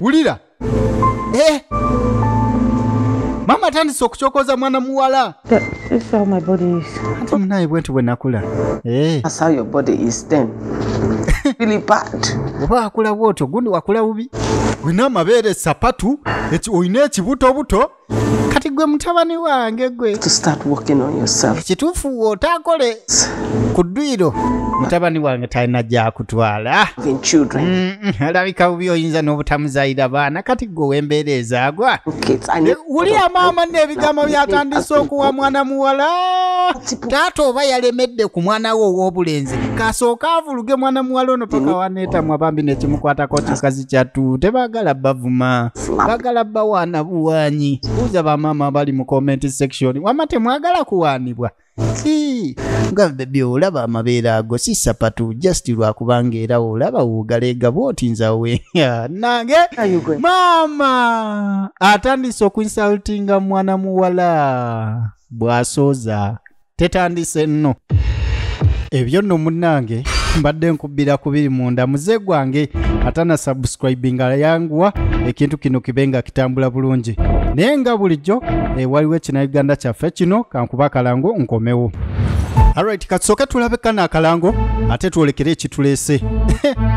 wulira eh. maama atandise okukyokoza mwana muwala munaye bwenti bwe nakula eh. oba wakula bwotyo gundi wakula bubi olina amabeere sapatu olina ekibutobuto kati gwe mutabani wange gwe ekituufu wotakole ku dduyiro mutabani wange talina gyakutwala alabika mm, bubi oyinza n'obutamuzayira baana kati gwe wembeera ezaagwa wulira maama n'ebigambo byatandise okuwa mwana muwala taata oba yalemedde ku mwana we ow'obulenzi kasooka avuluge mwana muwala ono paka waneetamwa bambi nekimukwatako kikazi kyatu tebagala bavuma bagala bawaana buwaanyi buuza bamaama abali mu comment section wama temwagala kuwaanibwa Ii, nga bebi olaba amabeere ago si sapatu just lwakubanga era olaba wogaleega bwoti nzawe nange maama atandise okuinsultinga mwana muwala bwasooza tetandise nno ebyo nno munnange mbadde nkubbira kubiri munda muze gwange atana subscribinga yanguwa ekintu kino kibe nga kitambula bulungi naye nga bulijjo eh, waliwo ekina uganda kyaffe kino kankuba akalango nkomewo alright katusooke tulabe kana akalango ate twolekere ekituleese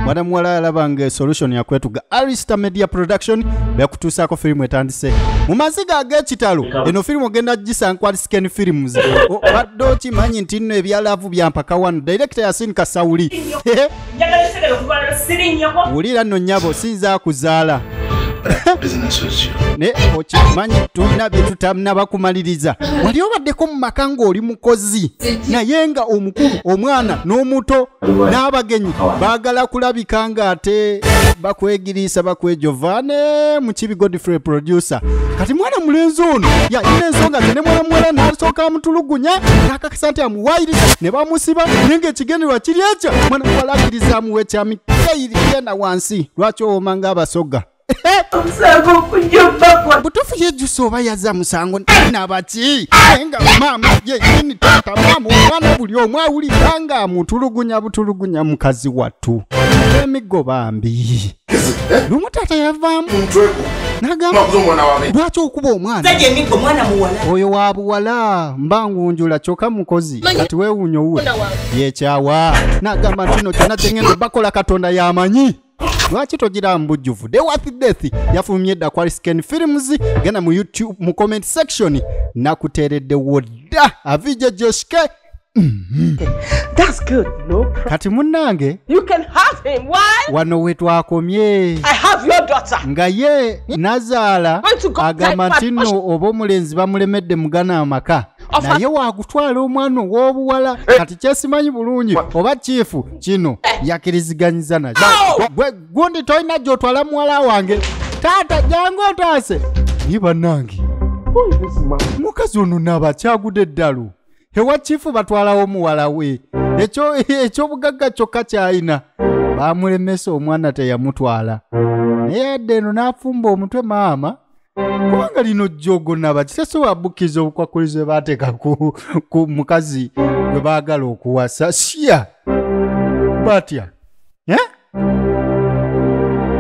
mwana muwala yalaba nga solution yakwetuga arista media production bekutuusaako firimu etandise mu maziga ag'ekitalo eno firimu ogenda gisankwalisa Skin Films. Oh, Obadde okimanyi nti nno ebya laavu byampaka wano. Direkita Yasin Kasawuli. Wulira nno nnyabo sinza akuzaala. naye okimanyi tulina byetutanaba kumaliriza wali obaddeko mu maka ng'oli mukozi naye nga omukulu omwana n'omuto n'abagenyi baagala kulabika ng'ate bakwegiriisa bakwejova ne mukibi godfrey producer kati mwana mulenzi ono yalina ensonga ze ne mwana muwala n'asooka amutulugunya n'akakasa nti amuwayiriza ne bamusiba naye ng'ekigenderwa kiri ekyo mwana muwala akkiriza amuwa ekyamikeyiri yena wansi lwaki owoma ng'abasoga butuufu yejusa oba yaza musango nabaki naye nga maama yenyini taata maama omwana buli omu awulira nga amutulugunya butulugunya mukazi wattu emiggo bambi lumu taata yavaamu nagamba lwaki okuba omwana oyo wa buwala mba ngunjula kyoka mukozi kati wewunya owuwe yekyawa nagamba ntino kyona kyengendo bakola katonda yamanyi lwaki togira mbujjuvu the worth death yafulumye dda ku arisken films genda mu youtube mu comment section nakuteereddewo dda avija joshke mm-hmm. kati munnange wano we twakomye nga ye nazaala agamba nti nno oba omulenzi bamulemedde mugana amaka naye waakutwala omwana ow'obuwala eh. kati kyesimanyi bulungi oba kiifu kino eh. yakiriziganyiza nakyo gwe gundi tolina gy'otwala muwala wange taata jangu otaase naye bannange mukazi ono naaba kyagude eddalu ewa kiifu batwalawo muwala we ekyobugagga kyokka kyalina baamulemesa omwana teyamutwala naye adde eno n'afumba omutwe maama kubanga lino jogo nabaki tesobola bukiriza obukwakkulizo bwe baateeka ku, ku mukazi gwe baagala okuwasa siya batya eh?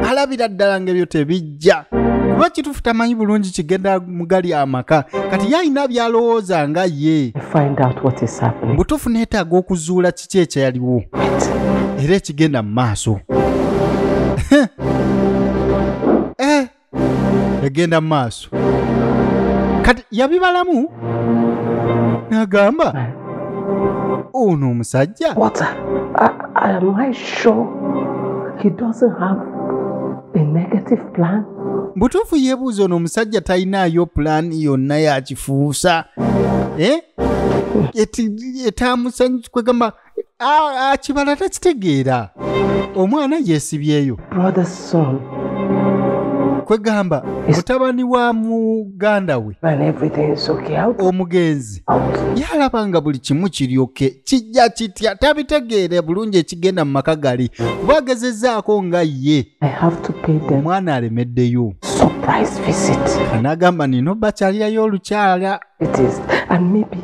alabira ddala ngaebyo tebijja kuba kitufu tamanyi bulungi kigenda mugali amaka kati yalina byalowooza nga ye butufu neetaaga okuzuula kiki ekyaliwo era ekigenda mu maaso egenda mu maaso kati yabibalamu n'agamba ono omusajja butuufu yebuuza ono omusajja talinaayo pulaani yonna yakifuusa eh? etamusanyusa kwegamba kibala takitegeera omwana yeesibyeyo kwegamba mutabani wa muganda we omugenzi yalaba nga buli kimu kiryoke kijja kitya tabitegeere bulungi ekigenda mu maka gali kuba agezezaako nga ye omwana alemeddeyo n'agamba nina obakyalirayo olukyala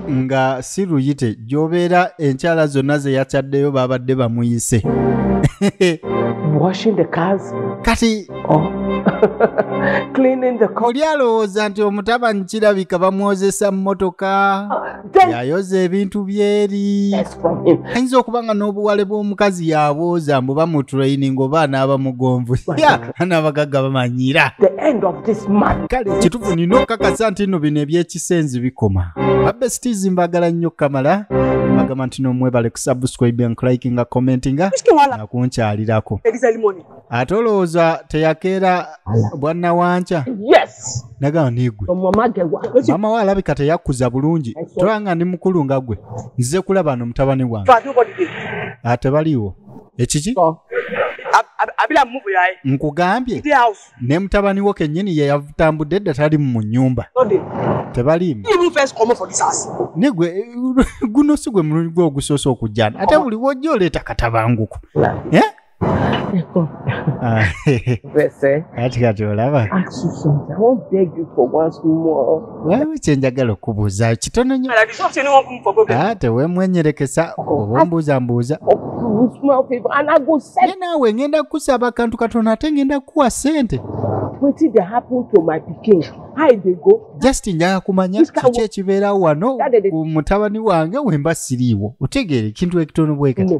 nga si luyite gyobeera enkyala zonna zeyakyaddeyo babadde bamuyise kati oh. oli alowooza nti omutabanyi kirabika bamwozesa mmotoka ah, yayoza ebintu byeri ayinza okuba nga n'obuwale bw'omukazi yabooza mbu bamutraining oba anaaba mugonvu n'abagagga bamanyira kale kitufu nina okukakasa nti no bino ebyekisenzi bikoma babesitizi mbagala nnyo kamala bagamba nti nomwebale kusubscribe and likinga commentinga nakunkyalirako ate olowooza teyakeera bwannawanca yes nagamba nigwe omumagewa maama we alabika teyakkuza bulungi tola nga ndi mukulu nga gwe nzize kulaba no mutabani wange ate ah, baliiwo ekiki abila muvu yaye nkugambye ne mutabani wo kenyini ye yatambudde dda tali mu nyumba tebaliimu nigwe guno si gwe mulungi gwe ogusoosa okujjana ate buli wojja oleeta katabanguko eh? Ah, kati kati olaba wewe kyenjagala okubuuza kitono nyo ah, tewemwenyerekesa oba ombuuza mbuuza ne naawe ngenda kukusaba akantu katono ate ngenda kukuwa sente just njaga kumanya kiki ekibeerawo wano mutabani wange wemba siriiwo otegeere ekintu ekitono bwekati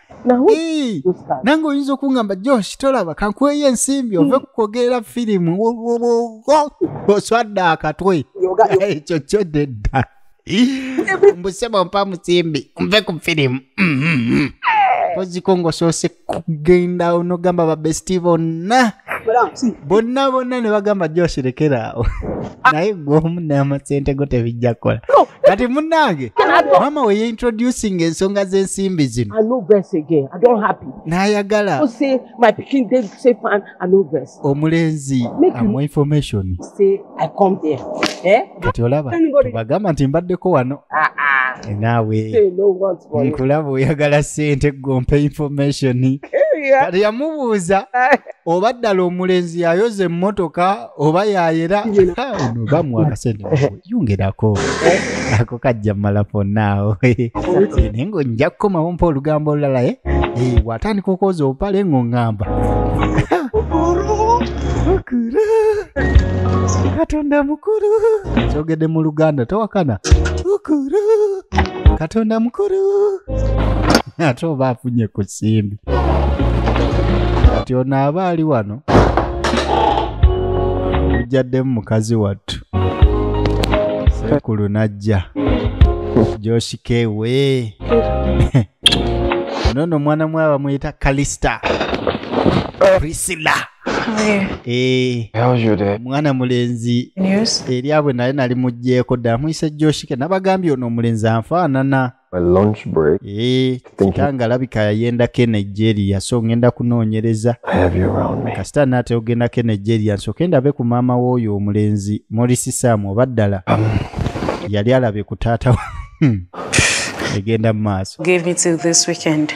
Ii, nange oyinza okungamba josh tolaba kankuweyo ensimbi ove kukwogerera firimu Wo- wo- wo- wo. oswadde akatwe ekyo kyo dedda mbusebo mpa musimbi nve ku firimu koziko ngaosoose kugenda onogamba babesti bonna bonna bonna ne bagamba josh lekeraawo ah. naye gwomu namasente go tebijja kukola kati munnange maama we yeintroducing ensonga z'ensimbi zino n'ayagala omulenzi amu information I come here. Eh? Kati olaba Anybody- bagamba nti mbaddeko wano Ah, ah. Eh, naawe Say no words for you. nkulaba oyagala sente gompe information Yeah. kati yamubuuza oba ddala omulenzi yayoza emmotoka oba yayera Ha, ono bamuwa akasente mukuwe. yongerako ako kajja mala fonaawo naye ngo nja kukomawo mpa olugambo olulala eh? Eh, watandika okwoza obupale ng'oŋŋamba Mukulu. katonda mukulu kyogedde mu luganda towakana mukulu katonda mukulu ate oba afunye ku simbi kati ono aba ali wano ujjaddemu mukazi wattu sekulu najja joshikewe nono omwana mwe abamuyita kalista prisila eh. mwana mulenzi eryabwe naye nali mugjeeko dda muyise joshike nabagambye ono omulenzi anfaanana eh, kitanga alabika yayendako enigeria so ngenda kunoonyereza kasita naate ogendako enigeria nsoke ndabe ku maama wooyo omulenzi morisi sam oba ddala um. yali alabe ku taata Hmm. egenda mu maaso Give me till this weekend.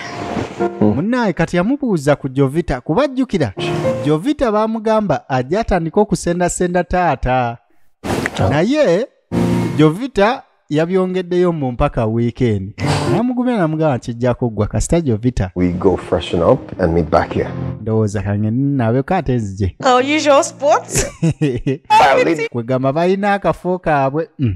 munaaye kati yamubuuza ku jovita kuba ajjukira jovita baamugamba ajja atandika okusendasenda taata naye jovita yabyongeddeyo mu mpaka wiikendi namugumira namugamba kijja kuggwa kasita jovita We go freshen up and meet back here. ndowooza kange nabeko ate nzije Our usual sports. kwegamba balina akafo kaabwe Mm.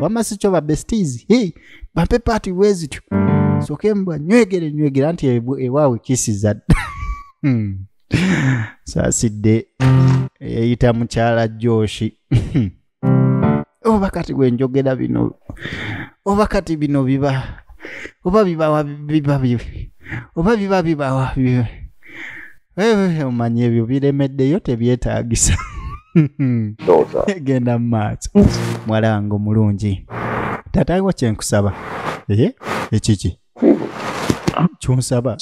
wamma si kyo babestiizi hey, bampe paati bwe zityo soke mbwa nywegere nywegera nti ebu- ewaawe kisiza dda Hmm. saasidde eyayita mukyala joshi oba kati bwe njogera bino oba kati bino biba oba bibawa biba bibi oba biba bibawa bibi Eh, omanya ebyo biremeddeyo tebyetagisa genda mumaaso mwala wange omulungi tatawo kyenkusaba eye ekiki kyonsaba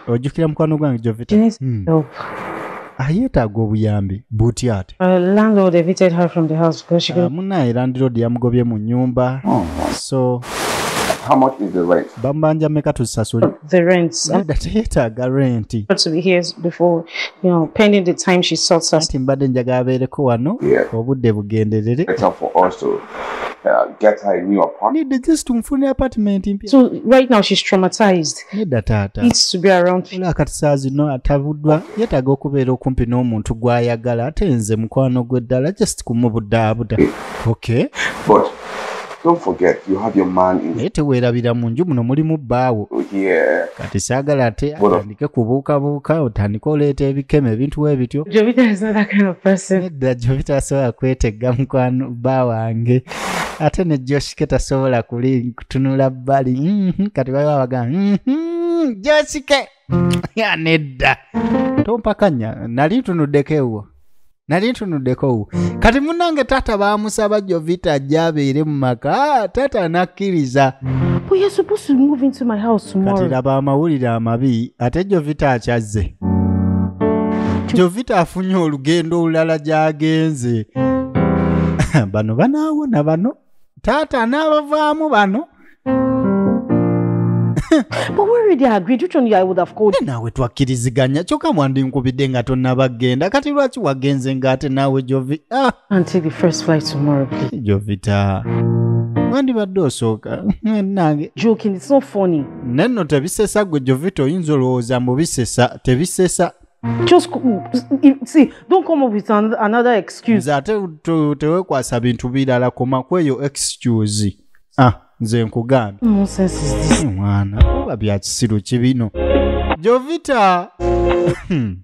ojjukira mukwano gwange jovita hmm. ayetaaga obuyambi butya ate uh, ah, munaye landiroodi yamugobye mu nyumba oh, so bamubanja meka tuzisasule the rent. Nada teyetaaga rent. To be here before, you know, pending the time she sorts us. Ati mbadde njagala abeereko wano obudde bugenderere. It's up for us to uh, get her a new apartment. Need just to mfune apartment mpya. So right now she's traumatized. Neda tata. Needs to be around. Ola kati saa zino atabuddwa yetaaga okubeera okumpi n'omuntu gw'ayagala ate nze mukwano gwe ddala just kumubudaabuda. Okay. But naye teweerabira mu nju muno mulimu bbaawo kati saagala ate atandike kubuukabuuka otandike oleeta ebikema ebintu we bityo edda jovita asobola kwetegga mukwano bba wange ate ne joshike tasobola kuli kutunula bbali mhm, kati baliwo abagamba mhm, joshike nedda tompakanya nali ntunuddeko ewwo nali ntunuddeko kati munange taata baamusaba jovita ajja abeere mu maka taata anakkiriza kati laba amawulire amabi ate jovita akyazze jovita afunye olugendo olulala gyagenze bano banaawona bano taata n'abavaamu bano naawe twakkiriziganya kyokka mwandi nkubidde nga tonnabagenda kati lwaki wagenze ng'ate naawe jovita ah. wandibadde osooka nange nanno tebisesa gwe jovita oyinza olowooza mbu bisesa tebisesa just see don't come up with another excuse nze ate tewekwasa bintu birala koma kweyo excuse ah nze nkugambye eh, mwana oba byakisiru ki bino jovita hmm.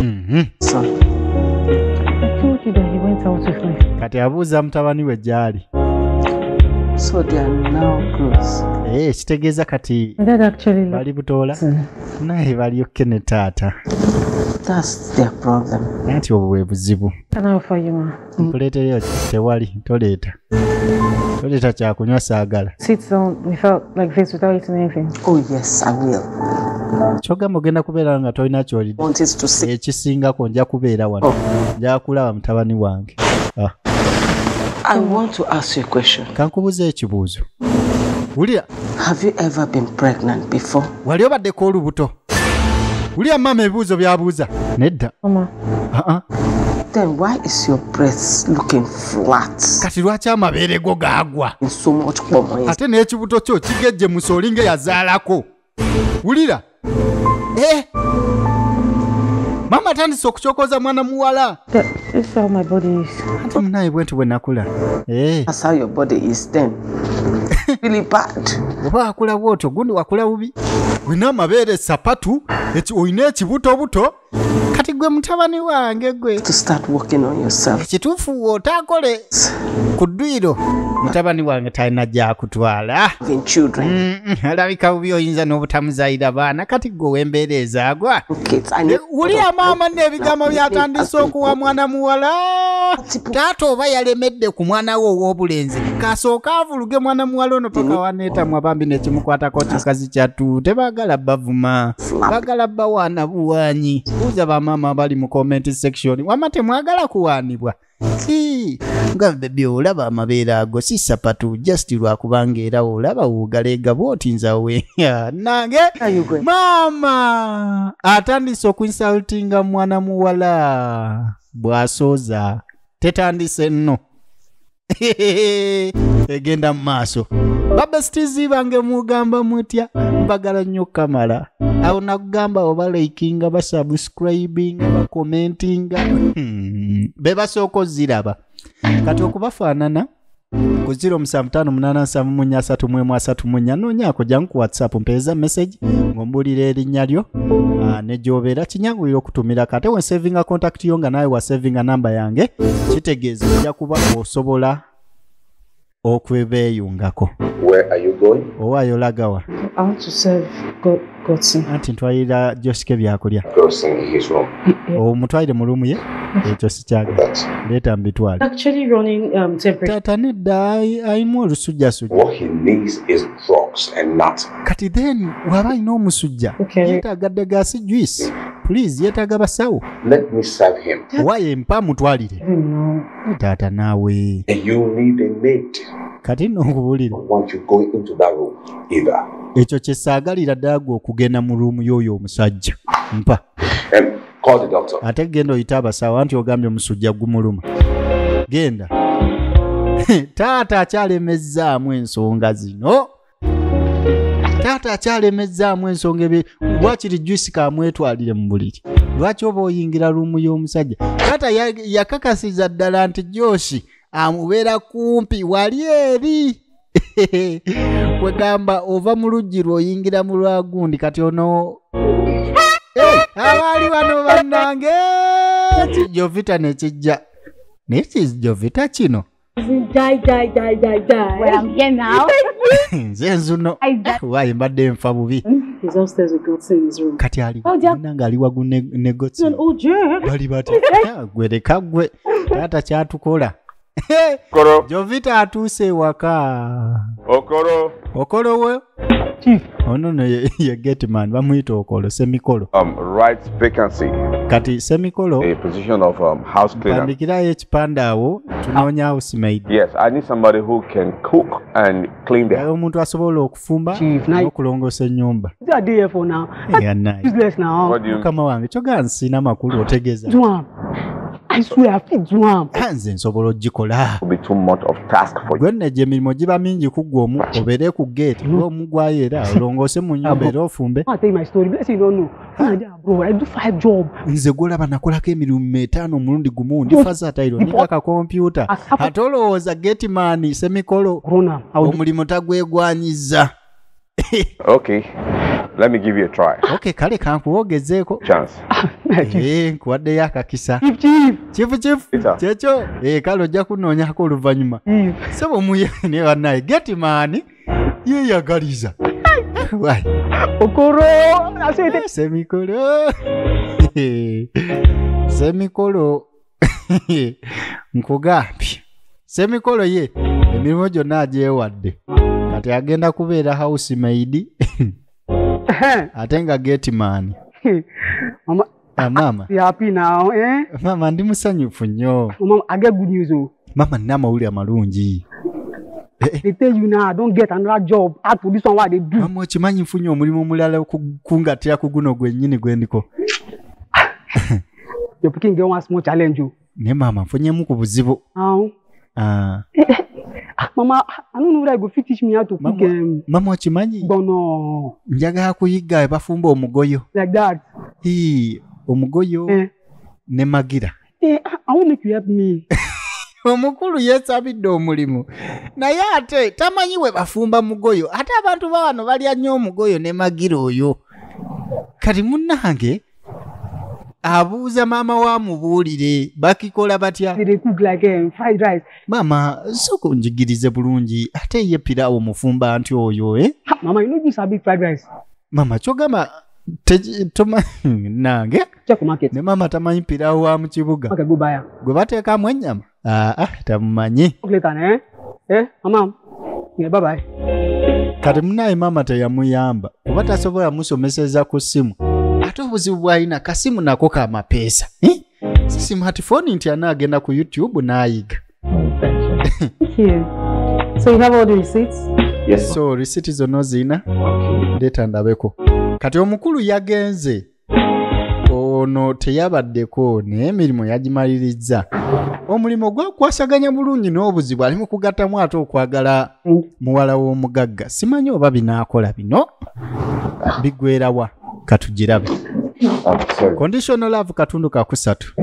mhm. kati abuuza mutabani we gyali so they are now close. Hey, eh, kitegeeza kati bali butoola naye balyokke ne taata nti obwo bwe buzibu nkuleetereyo tewali toleeta toleeta kyakunywa saagala oh, kyogamba ogenda kubeera nga tolina kyolidde ekisingako nja kubeera wano oh. njakulaba mutabani wange ah. kankubuza ekibuuzo wulira wali obaddeko olubuto wulira maama ebibuuzo byabuuza nedda kati lwaki amabeere go gaagwa ate n'ekibuto kyo kigejje musooli nga yazaalako wulira eh! maama atandise okukyokoza mwana muwala ate munaye bwentu bwe nakula eh. oba akula bwotyo gundi wakula bubi olina amabeere sapatu olina ekibutobuto kati gwe mutabani wange gwe ekituufu wotakole ku dduyiro mutabani wange talina gyakutwala alabika bubi oyinza n'obutamuzayira baana kati gwe wembeera ezaagwa wuliya maama nno ebigambo byatandise okuwa mwana muwala taata oba yalemedde ku mwana we ow'obulenzi kasooka avuluge mwana muwala ono paka waneetamwa bambi nekimukwatako kikazi kyattu tebagala bavuma bagala bawaana buwaanyi buuza bamaama abali mu comment section wama temwagala kuwaanibwa si nga bebi olaba amabeera ago si sapatu just lwakubanga era olaba wogaleega bwoti nzawe nange maama atandise okuinsultinga mwana muwala bwasooza tetandise nno egenda mu maaso babesitizi bange mugamba mutya mbagala nnyo kamala awo nakugamba oba laikinga basabus subscribinga bakomentinga hmm. bebasooka oziraba kati okubafaanana ku 07587331 noonyaako jangu ku whatsapp mpeeza message ng'ombuulira erinnya lyo ah, ne gy'obeera kinyanguyira okutumira kate we savinga contact yo nga naawe wasavinga namba yange kitegeeza ojja kuba osobola okwebeeyungako owaayo lagawa anti ntwalira josike byakulya omutwalire mu luumu ye ekyo sikyagala leeta mbitwale um, taata nedda ayimu olusujjasujja kati then waba alina omusujja yetaaga ddegaasi juice please yetaaga basawo wayo empa mutwalire taata naawe kati no nkubulire ekyo kyesaagalira daaga okugenda mu ruumu y'oyo omusajja mpa ate genda oyita abasawo anti ogambye omusujja gumuluma genda taata akyalemezzaamu ensonga zino taata akyalemezzaamu ensonga ebe wakiri juisi kamwetwalire mu buliri lwaki oba oyingira luumu y'omusajja taata yakakasiza ddala nti joshi amubeera kumpi wali eri kwegamba ova mu luggi lwoyingira mu lwagundi kati ono abaali bano bannange kijovita nekijja naye kijovita kino Die, die, die, die, die. Well, I'm here now. nze nzuno I die. waayi mbadde nfa bubi He's upstairs with God's in his room. kati ali Oh, ja- muna ng'ali wagu ne- ne gotsi An old jerk. bali bati "Ah, gwe leka gwe taata kyatukola Okoro, jovita atuuse ewaka okoro. okolowo Hmm, ono no ye, ye gateman bamuyita okolo semikolo um, right vacancy kati semikolo a position of um, house cleaner mpandikirayo ekipande awo tunoonya house maid yes i need somebody who can cook and clean the house omuntu asobola okufumba n'okulongoosa ennyumba mukama wange kyoga nsina makulu otegeeza nze nsobola ogikola gwonna egyo emirimu giba mingi ku gwe omu obeere ku geeti gwe omu gwayo era olongoose mu nyumba era ofumbe nze gwolaba nakolako emirimu metaano omulundi gumu ndi fazatayiro niga kakompyuta ate olowooza geeti maani semikolo omulimu tagwegwanyiza okay let me give you a try okay kale kankuwogezeeko chance eh, nkuwaddeyo akakisa kifu kifu kyekyo eh, kale ojja kunoonyako oluvannyuma sebo muye ne bannaye geti maani yeyagaliza Why? Okoro, asete. Semikolo. Semikolo. nkugambye semikolo ye emirimu gyonna agyewadde kati agenda kubeera house maid ate nga gateman Mama, Ah, maama you happy now, eh? maama ndi musanyufu nnyo Mama, I get good news. Oh. maama nina amawulire amalungi They tell you now, I don't get another job. Add to this one, what they do. maama okimanyi nfunye omulimu omulala oku- kungatira ku guno gwennyini gwendiko your pikin get one small challenge o. Oh. me mama mfunyemu ku buzibu. awo. Ah. Ah, mama i no know whether you go fit teach me how to cook. Um, mama okimanyi. gbono. njagala kuyiga bafumba omugoyo. like that. hii omugoyo. Eh. ne magira. eh ah, i wan make you help me. omukulu yesabidde omulimu naye ate tamanyi we bafumba mugoyo ate abantu bawano balya nnyo omugoyo ne magira oyo kati munange abuuza maama wa mubuulire bakikola batya maama soka onjigirize bulungi ate ye piraawo mufumba nti oyo e maama kyogamba nange ne maama tamanyi piraawo wa mu kibuga gwe bateekamu ennyama Ah, ah, tamumanyi Kulekana, eh? Eh, mama. Yeah, bye bye. kati munaye maama teyamuyamba kuba tasobola musomeseza ku ssimu ate obuzibu bwalina kasimu nako ka mapeesa Eh? si simatifoni nti ana agenda ku youtube n'ayiga Thank you. So you have all the receipts? Yes. so risiti zonna ozirina ndeeta ndabeko kati omukulu yagenze ono teyabaddeko naye emirimu yagimalirizza omulimu gwakwasaganya bulungi n'obuzibu ali mu kugattamu ate okwagala muwala w'omugagga simanyi oba binaakola bino bigwerawa katugirabe conditional love katundu kakusatu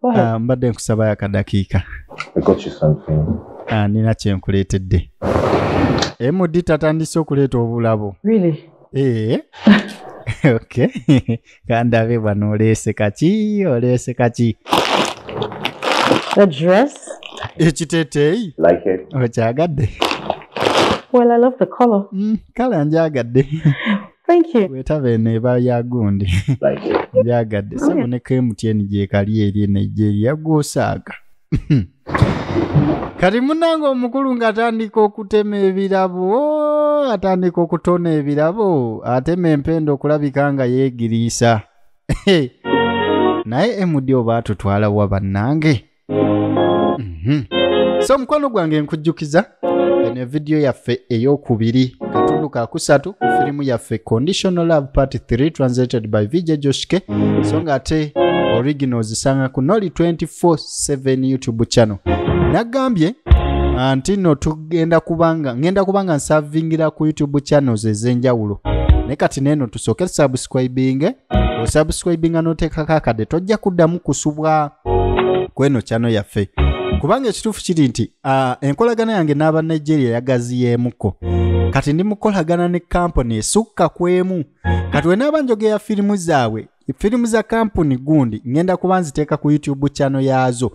oh, ah, mbadde nkusabayo akadakiika ah, nina kyenkuleetedde md tatandise okuleeta obulabo really? Eh. okay kandabe bwana oleese kaki oleese kaki The dress? ekiteteeyi Like it? okyagadde Well, I love the color. Mm, kala njagadde Thank you. wetaba eno eba ya gundi Like it? njagadde sebo ne kmtn gyekali eri eno egyeri yagwosaaga kati munange omukulu ng'atandika okutema ebirabo atandika okutona ebirabo atema empenda okulabika nga yeegiriisa naye emudi oba atutwala wa bannange Mhm. so mukwano gwange nkujjukiza eno evidiyo yaffe ey'okubiri katundu kakusatu ku firimu yaffe conditional love part 3 translated by vj joshke so nga ate original ozisanga ku noli 247 youtube channel nagambye ah, nti no tugenda kubanga ngenda kubanga nsavingira ku youtube channels ez'enjawulo naye kati neeno tusooke tusubscribinge osubscribinga n'oteekako akadde tojja kuddamu kusubwa kweno channel yaffe kubanga ekituufu kiri nti uh, enkolagana yange n'aba nigeria yagaziyeemuko kati ndi mukolagana ne kampuni esukka ku emu kati wenaaba njogera firimu zaabwe firimu za kampuni gundi ngenda kuba nziteeka ku youtube chano yaazo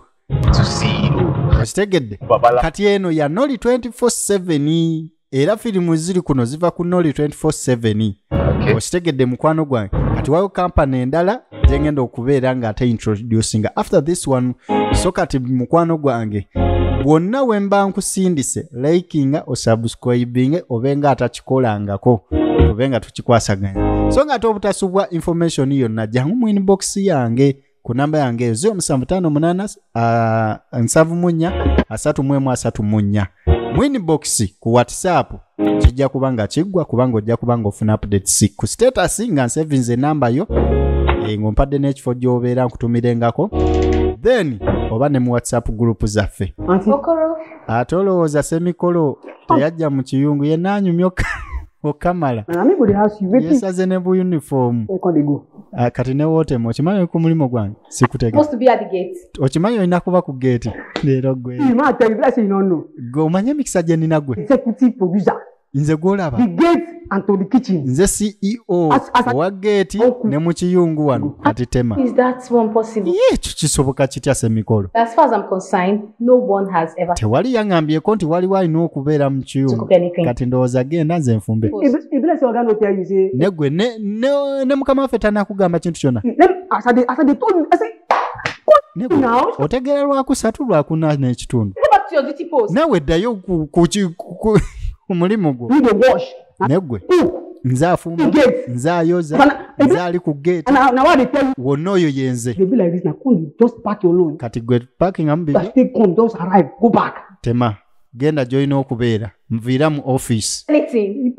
okitegedde kati eno ya noli 24 era firimu ziri kuno ziva ku noli 247 okitegedde mukwano gwange kati wayo kampani endala gyengenda okubeera nga ate introducinga after this one so kati mukwano gwange bwonna we mba nkusindise likinga osubscribinge obe nga atakikolangako obe nga tukikwasaganya so nga ate obutasubwa information yonna jangu mu inbox yange ku namba yange eyo 0758 331 mwinbox ku whatsapp kijja kuba nga kiggwa kubanga ojja kuba nga ofuna updates ku status nga nsevinze enamba yo eh, ng'ompadde n'ekifo gy'obeera nkutumilengako then oba ne mu whatsapp group zaffe ate olowooza semikolo teyajja mu kiyungu yenaanyumyoka okamala yesaze ne bu uniform ah, kati ne wotema okimanyi oli ku mulimu gwange sikutega okimanyi olina kuba ku geeti leero gwe gwe omanye emikisa gye nina gwe nze gwolaba nze ceo owa geeti ne mu kiyungu wano kati tema ekyo kisoboka kitya semikolo No one has ever tewali yang'ambyeko nti waliwo alina okubeera mu kiyungu kati ndowooza genda nze nfumbe negwe ne mukama waffe tanakugamba kintu kyona otegeera lwakusatu lwakuna n'ekitundu nawe ddayo ku mulimu gwo negwe nze afumba nze ayoza nze ali ku gate wonna oyo yenze kati gwe pakingamu tema genda gyolina okubeera nviira mu office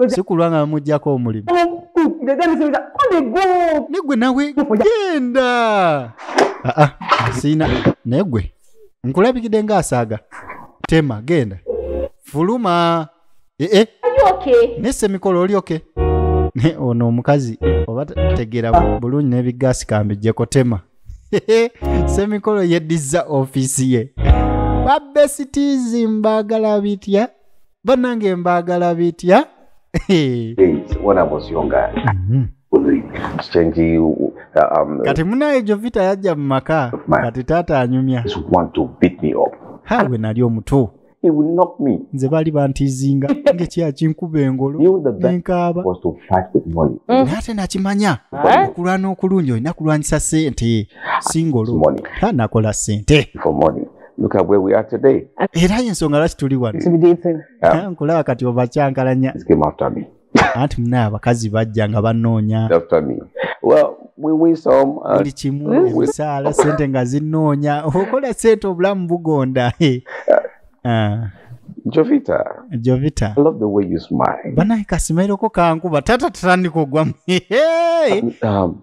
sikulwa nga bamugjako omulimu negwe nawe genda ah, ah, siina negwe nkulabikidde ngaasaaga tema genda fuluma Eh, eh. Are you okay? ne semikolo oli oke ne ono omukazi oba te- tegera bu- bulungi n'ebigaasi kambijjeko tema semikolo yeddiza ofiisi ye babesitizi mbaagala bitya banange mbaagala bitya days when I was younger. Mhm. Strange, uh, um, kati munaye jovita yajja mu maka kati taata anyumya just want to beat me up. ha gwe nali omutu He will knock me. nze baali bantizinga ngekyakinkuba engolo nenkaaba mm. naye ate nakimanya eh? okulwana okulungi olina kulwanyisa sente singolo tanakola sente Look at where we are today. Era yensonga lwaki tuli wano. Nkulaba kati obakyankalanya. He came after me. anti mune abakazi bajja nga banoonya buli kimu emisaala sente nga zinoonya okola sente obulamu bugonda uh, Jovita. Jovita. I love the way you smile. Bana ikasimairo ko kangu batata tani ko gwam. Hey. Um, um,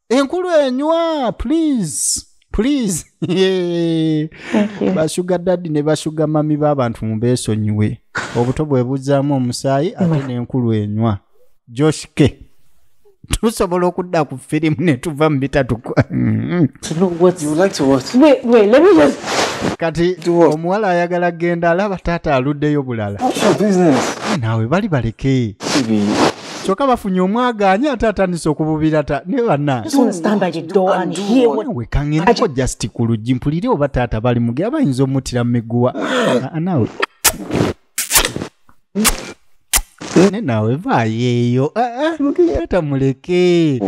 enkulu enywa please please bashuga dadi ne bashuga mami b'abantu mubesonyiwe obuto bwebuzaamu omusaayi ate n'enkulu enywa josh k tusobola okudda ku firimu ne tuva mu bitatukwa kati omuwala ayagala genda alaba taata aluddeyo bulala naawe bali baleke kyoka bafunye omwagaanya ate atandise okububira ta ne banawekang'enako just ku luggi mpulire oba taata bali muge abayinza omutira mu miguwa nawe ne nawe vaayeeyo taata muleke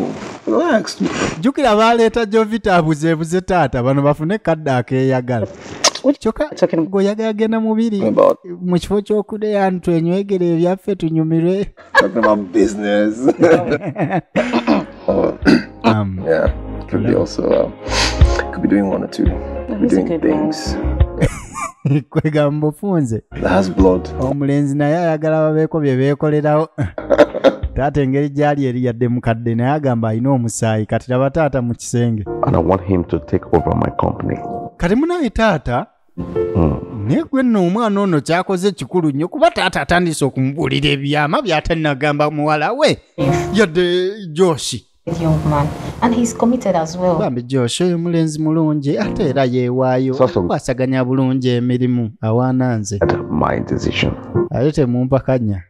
jjukira baaleeta jovita abuzeebuze taata bano bafune kadde akeeyagala goyaga agenda mubiri mu kifo kyokudeya nti twenywegere ebyaffe tunyumirwe um, yeah, could be also uh, could be doing one or two could be doing things kwegamba ofunze omulenzi naye ayagala babeeko bye beekolerawo taata engeri gyali eri yadde mukadde naye agamba alina omusaayi kati laba taata mu kisenge kati munaye taata hmm. naye gwe nno omwana ono kyakoze ekikulu nnyo kuba taata atandise okumubuulira ebyama byatanagamba muwala we yadde joshi bambi joshi oyo mulenzi mulungi ate era yeewaayo kwasaganya bulungi emirimu awaana nze ate temumpakanya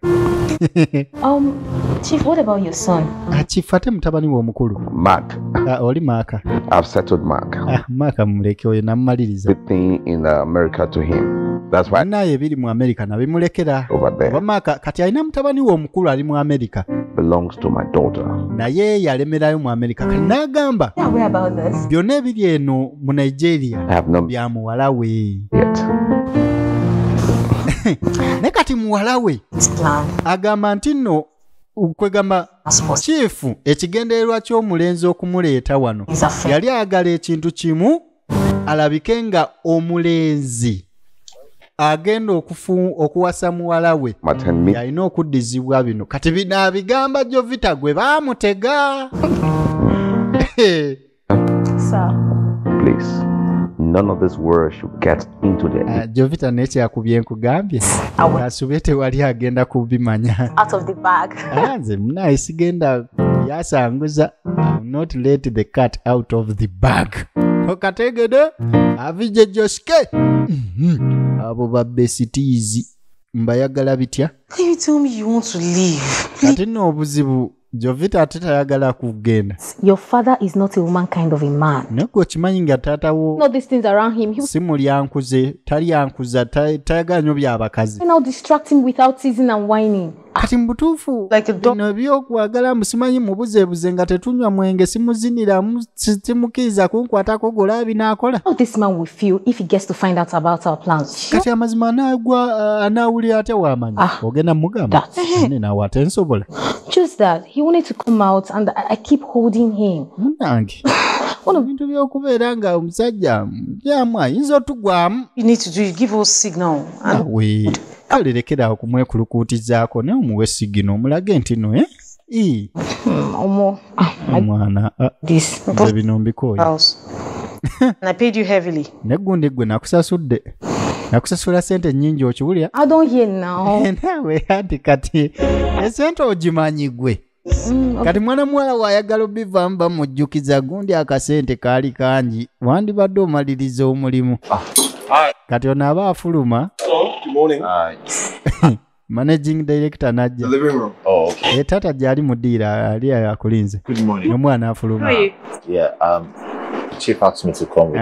um, chief what about your son ah, chief ate mutabani we omukulu mark ah, oli maaka i've settled mark ah, maaka muleke oyo namumaliriza the thing in america to him naye ebiri mu amerika nabimulekera oba maaka kati alina mutabani we omukulu ali mu amerika belongs to my daughter. Naye yalemerayo mu America. Kanagamba. Byonna ebiri eno mu nigeria bya muwala we naye kati muwala we agamba nti nno kwegamba kiifu ekigendererwa ky'omulenzi okumuleeta wano yali ayagala ekintu kimu alabike nga omulenzi agenda okuwasa muwala we yalina okuddizibwa bino kati binaabigamba jovita gwe baamutega Please. None of this world should get into the uh, Jovita naye yakubye nkugambye asubye tewali agenda kubimanya out of the bag ah, nze munaye sigenda yasanguza not let the cat out of the bag okategede avije joske mm-hmm. abo babesitiizi mbayagala bitya kati nno obuzibu jovita ate tayagala kugenda Your father is not a woman kind of a man. naye gwe okimanyi nga taata You wo know these things around him. He will si mulyankuze talyankuza ta- tayagala nyo byabakazi now distract him without teasing and whining. kati mu butuufu Like a dog. bino ebyokwagala mbu simanyi mubuzebuze nga tetunywa mwenge simuziniramu simukiiza kunkwatako gola binaakola kati amazima anagwa uh, anawulira atya wamanya ah, ogenda mugamba nawe ate nsobola munange ono bintu byokubeera nga omusajja byamu ayinza otugwamu kale lekera okumwekulukuutizaako naye omuwe sigino omulage nti no eh? Ii, Mm, omo ah, I omwana ah, this nze bino mbikooye house and i paid you heavily neggundi gwe nakusasudde nakusasula sente nyingi okiwulira i don't hear now nawe anti kati esente ogimanyi gwe Mm, kati mwana muwala waayagala obivamu bamujjukiza gundi akasente kaali kangi wandibadde omaliriza omulimu kati ono aba afuluma Good morning. managing director najja oh, eh, taata gyali mudiira ali akulinze omwana afuluma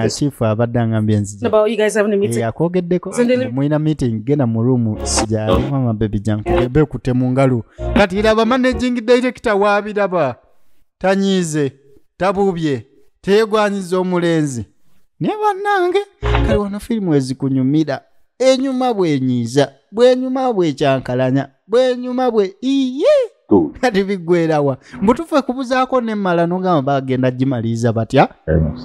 chief abadde angambye nziakwogeddeko eh, mulina meeting genda mu room gyamama bebi jankuebe kute mu ngalo kati iraba managing director wabiraba tanyiize tabuubye teyegwanyiza omulenzi naye bannange kale wano firimu ezikunyumira enyuma bwenyiiza bwenyuma bwekyankalanya bwenyuma bwe iye kati biggwerawa mbutufe kubuzaako nemmala nogamba bagenda gimaliriza batya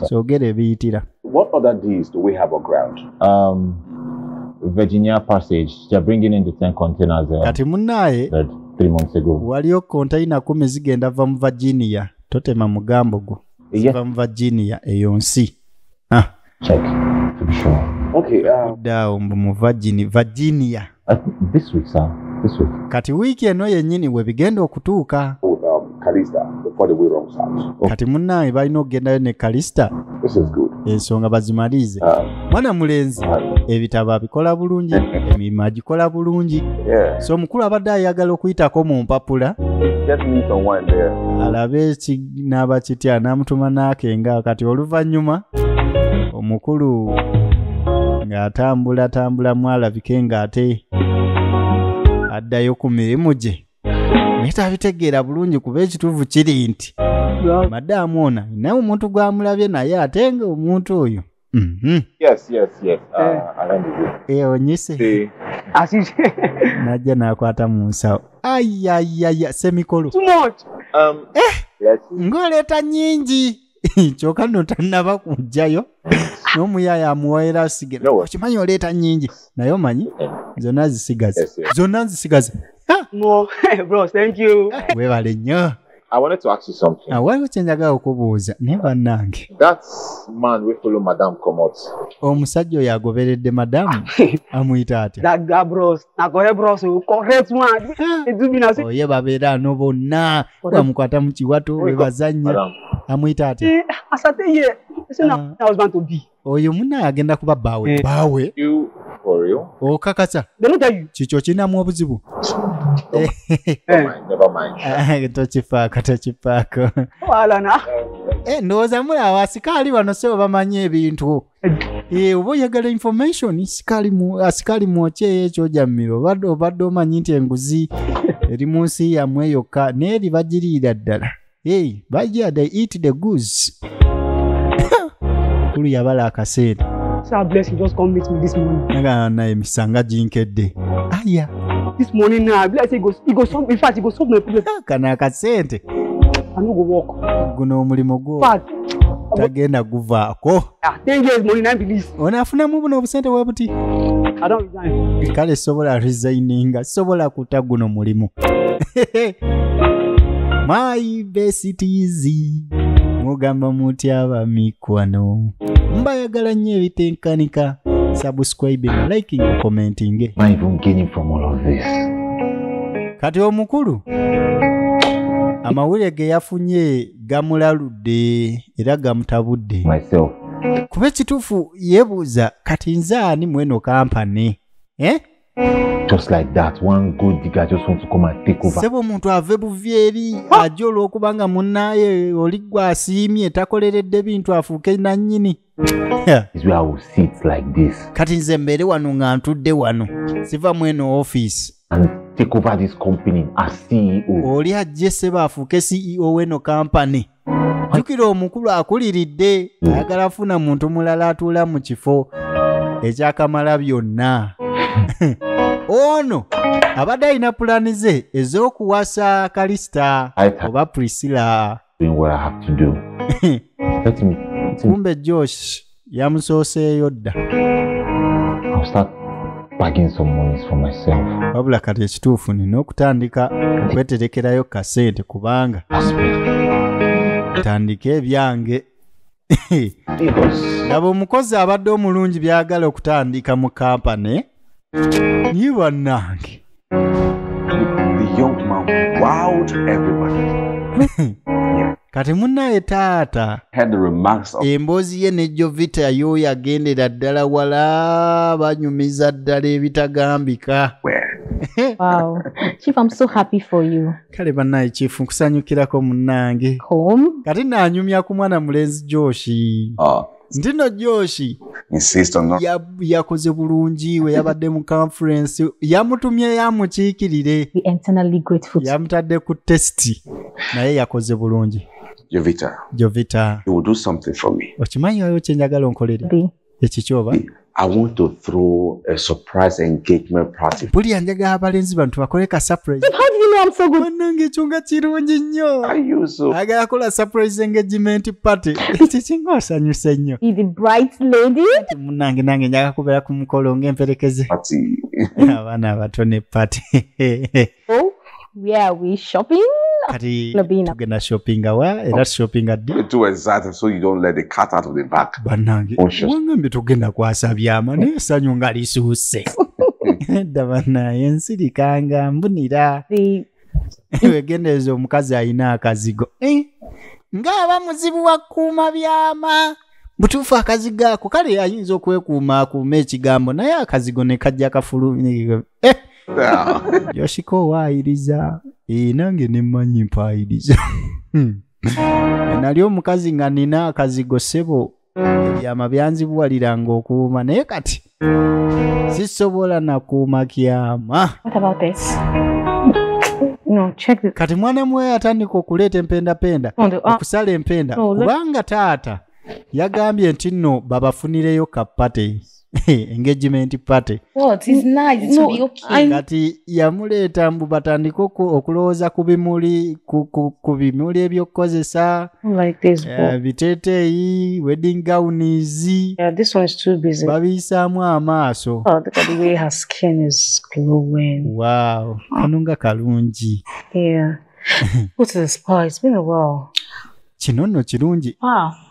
kyogera ebiyitira What other deals do we have on ground? Um, Virginia Passage, they're bringing in the 10 containers there. Kati munaye, that three months ago. Waliyo container kumi zigenda va mu Virginia. Totema mugambo gwo. Ziva mu Virginia eyo nsi. Ah. Check. To be sure. Okay. Uh, Dao mbu mu Virginia. Virginia. Uh, this week, sir. This week. Kati wiki eno yennyini we bigenda okutuuka. Oh, um, Kalista, before the way wrong sounds. Oh. Kati munnaye balina okugendayo ne Kalista. This is good. Ensonga bazimalize. Uh, Mwana mulenzi, uh, ebitabo abikola bulungi, emirimu agikola bulungi. Yeah. So mukulu abadde ayagala okuyitako mu mpapula. Just need someone there. Alabe ki n'aba kitya n'amutuma n'akenga kati oluvannyuma omukulu ng'atambula tambula mwalabike ng'ate addayo ku mirimu gye naye tabitegeera bulungi kuba ekituufu kiri nti madaamu ona naye omuntu gwamulabye naye ate nga omuntu oyo Mhm. Yes, yes, yes. Ah, Eh. Alan is it. Eh, onyise Eh, Asisi. najja nakwata mu nsawo ayayaya semikolo Too much. um, yes. ng'oleeta nyingi kyokka no tannaba kujjayo n'omuyaaye amuwaera sigera No. okimanyi oleeta nyingi naye omanyi zonna zisigaza Yes, yes. zonna nzisigaza No, bro, thank you. webale nnyo I wanted to ask you something. Ah, waliwo kye njagala okubuuza naye bannange. That man we follow madam Komot. Omusajja oyo agoberedde madam amuyita atya? That guy bros, nakole bros, correct man. Ejubinasi. Oye babeera no bonna bamukwata mu kiwato bwe bazannya. Amuyita atya? Eh, Asate ye. Ese na ah. husband to be. oyo muna agenda kuba baawe Eh. baawe You for real? okakasa They don't tell you. kikyo kirinamu obuzibu Never Eh. mind, never mind. Ah, tokifaako tokifaako Oh, Alana. Eh, ndowooza mulaba asikaali bano sebo bamanyi ebintu Eh, oba oyagala information sikaali mu- asikaali mwokyeyo ekyojammiro obadde obadde omanyi nti enguzi eri mu nsi yamwe yokka naye eri bagiriira ddala hey, bajja they eat the goods kulu yabala akaseera nagaa naye misanga ginkedde aya This morning now, I be like say go, he go solve. In fact, he go solve my problem. Kana akasente. I no go work. Guno omulimu gwo. But tagenda guvaako. Ah, ten years muli nine please. Ono afunamu buno obusente bwe buti. I don't resign. Kale sobola resigninga, sobola kuta guno mulimu. My best is mugamba muti aba mikwano. Mbayagala nnyo ebitenkanika. Subscribing, liking, commenting. Eh. My even gaining from all of this. Kati omukulu amawulire ge yafunye gamulaludde era gamutabudde kuba ekituufu yeebuuza kati nze ani mweno kampani eh? just like that one good digger just want to come and take over sebo omuntu ave buvi eri aje olw'okubanga munnaye oli gwe asiimye takoleredde bintu afuuke nannyini kati nze mbeere wano nga ntudde wano siva mu eno office e oli ajje seba afuuke ceo weno kampany jukira omukulu akuliridde hmm. ayagala afuna muntu mulala atuula mu kifo ekyakamala byonna ono abadde alina pulani ze ez'okuwasa kalisita oba prisila doing what I have to do. let me, let me. Kumbe Josh, yamusooseeyo dda. I'll start bagging some monies for myself. Wabula kati ekituufu nina okutandika okweterekerayo kasente kubanga tandika ebyange laba omukozi abadde omulungi byagala okutandika mu kampane ye bannange kati munaye taata emboozi ye ne jovita yooyo agendera ddala wala banyumiza ddala ebitagambika kale banaye kyifu nkusanyukirako munange kati nanyumya ku mwana mulenzi joshi ah. ntino joshi yakoze bulungi we yabadde mu conference yamutumye yamukiikirire yamutadde ku testi naye yakoze bulungi jovita jovita okimanyi wayo kyenjagala onkolere ekikyoba I want to throw a surprise engagement party. Buli anjaga abalenzi bantu bakole ka surprise. But how do you know I'm so good? Manange chunga chirungi nyo. I use so. Aga yakola surprise engagement party. Ichi chingo sanyu senyo. Is the bright lady? Munange nange nyaga kubela kumukolo nge mperekeze. Party. Abana batone party. Oh, where are we shopping? kati Nabina. tugenda shoppinga wa era shoppinga ddi You do exactly so you don't let the cat out of the bag. bannange Conscious. wangambye tugenda kwasa byama naye essanyu nga lisuuse edda banaye nsirika nga mbunira The wegendereza omukazi alina akazigo Eh, ng'aba muzibu wa kuuma byama butuufu akazigo ako kale ayinza okwekuuma akuuma ekigambo naye akazigo ne kajja kafulu Eh, yoshika owaayiriza ee nange ne mmanyi mpaayiriza Hmm. nali omukazi nga nina akazigo sebo ebyama byanzibuwaliranga okuuma naye kati sisobola nakuuma kyama What about this? No, check this. kati mwana muwe atandika okuleeta empendapenda On the, uh, okusala empenda Oh, let- kubanga taata yagambye nti nno babafunireyo kapate engagement party oh, kati yamuleeta mbu batandike okulowooza ku bimuli ku bimuli ebyokukozesa oh eh, biteteeyi wedding gowns babiyisaamu amaaso oh, wow kano nga kalungi kino nno kirungi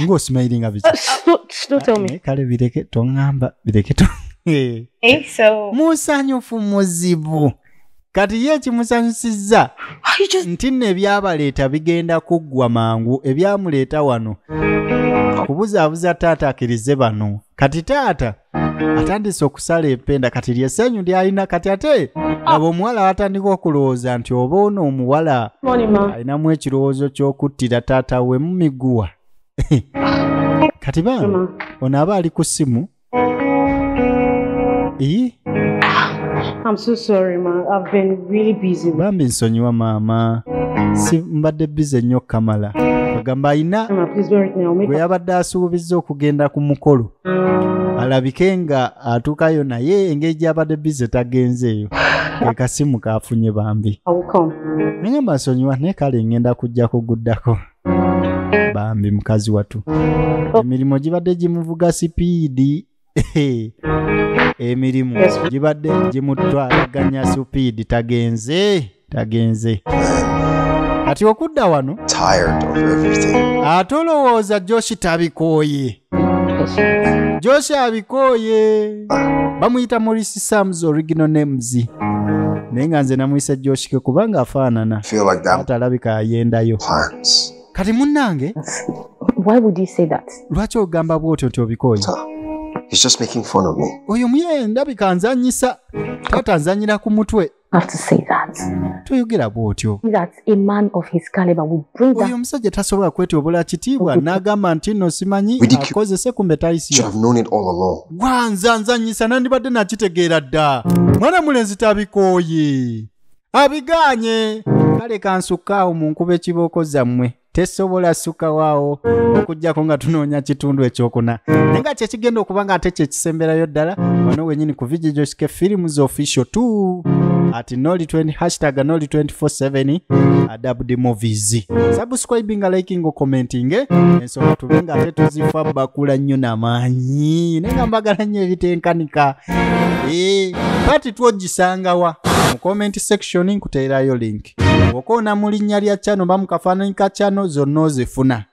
ng'osimayiringa biki eh, kale bireke toŋŋamba bireke to eh. Eh, musanyufu muzibu kati ye ekimusanyusizza nti nno ebyabaleeta bigenda kuggwa mangu ebyamuleeta wano kubuzaabuza taata akirize bano kati taata atandise okusala empenda kati lyesenyu lyalina kati ate abo omuwala watandika okulowooza nti oba ono omuwala alinamu ekirowoozo kyokuttira taata we mumiguwa kati bambi ono aba ali ku simu iyi I'm so sorry, ma. I've been really busy. Bambi nsonyiwa maama. Si mbadde busy nnyo Kamala. Agamba ayina gwe yabadde asuubizza okugenda ku mukolo. alabike nga atuukayo naye engeri gyabadde bize tagenzeeyo ekasimu kafunye bambi naye masonyiwa naye kale ngenda kujja kuguddako bambi mukazi watu emirimu gibadde gimuvuga sipiidi emirimu gibadde gimutwalaganya sipiidi tagenze tagenze kati okudda wano ate olowooza joshi tabikooye joshi abikooye bamuyita morisi sams original names naye nga nze namuyise joshike kubanga afaanana ate alabika ayendayo kati munnange lwaki ogamba bwotyo nti obikooye oyo muye ndabika nzanyisa taata nzanyira ku mutwe toyogera bwotyo oyo omusajja tasobola kwetyobola kitiibwa n'agamba nti nno simanyi akozese kumbe tayisiwanzanzanyisa nandibadde nakitegeera dda mwana mulenzi tabikooye abigaanye kale kansukkaawo mu nkuba ekibooko zammwe tesobola sukawaawo okujjako nga tunoonya kitundu ekyokuna naye nga kyekigenda okuba nga ate kyekisemberayo ddala wano wenyini ku vigijoske films official t ati noli 20 hashtag noli 247 adabudi movies subscribe nga liking commenting eh? ensonga tube nga ate tuzifa bakula nnyo namaanyi naye nga mbagala nnyo ebitenkanika e, eh, pati twogisangawa mu comment section nkuteerayo link gift wokoona mu linnya lya channel ba mu kafaananyi ka channel zonna ozifuna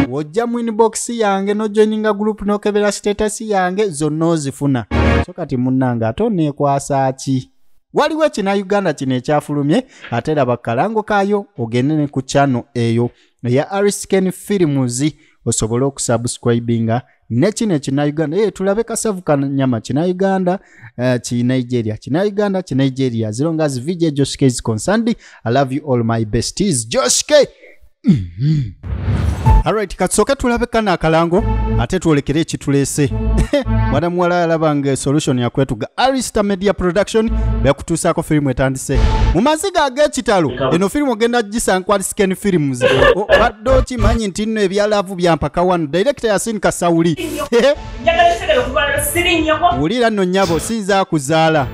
wojja mu inbox yange nojoininga group nokebera status yange zonna ozifuna so kati munnange ate oneekwasa ki waliwo ekina uganda kino ekyafulumye ate laba kalango kaayo ogende ne ku channel eyo eya arisken films osobole okusubscribinga nekino ekinauganda e, eh, tulabe kasavu kanyama kinauganda uh, eh, kinigeria kinauganda kinigeria as long as vj joshk is concerned i love you all my besties joshk mm -hmm. alright katusooke tulabe kana akalango ate twolekere ekituleese mwana muwala yalaba nga solution yakwetuga arista media production bekutuusaako firimu etandise mu maziga ag'ekitalo eno firimu ogenda gisankwali African films obadde okimanyi nti nno ebyalaavu byampaka wano direkita yasin kasawuli wulira nno nyabo sinza kuzaala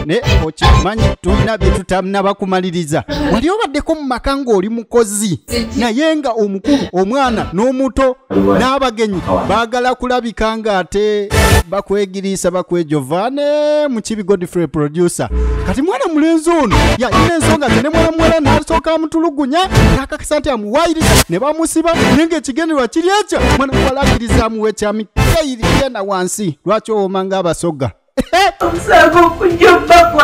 naye okimanyi tulina bye tutanaba kumaliriza wali obaddeko mu maka ng'oli mukozi naye nga omukulu omwana n'omuto n'abagenyi baagala kulabika ng'ate bakwegiriisa bakwejova ne mukibi godfrey producer kati mwana mulenzi ono yalina ensonga ze ne mwana muwala n'asooka amutulugunya n'akakasa nti amuwayiriza ne bamusiba naye ng'ekigenderwa kiri ekyo mwana muwala akkiriza amuwa ekyamikeyiri yena wansi lwaki owoma ng'abasoga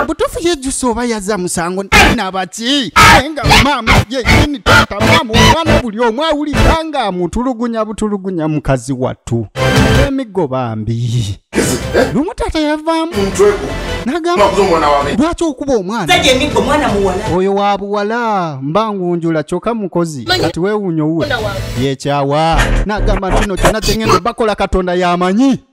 butuufu yejusa oba yaza musango nabaki naye nga maama yenyini taata maama omwana buli omu awulira nga amutulugunya butulugunya mukazi wattu emiggo bambi lumu taata yavaamu nagamba lwaki okuba omwana oyo wa buwala mba ngunjula kyoka mukozi kati wewunya owuwe yekyawa nagamba ntino kyona kyengendo bakola katonda yamanyi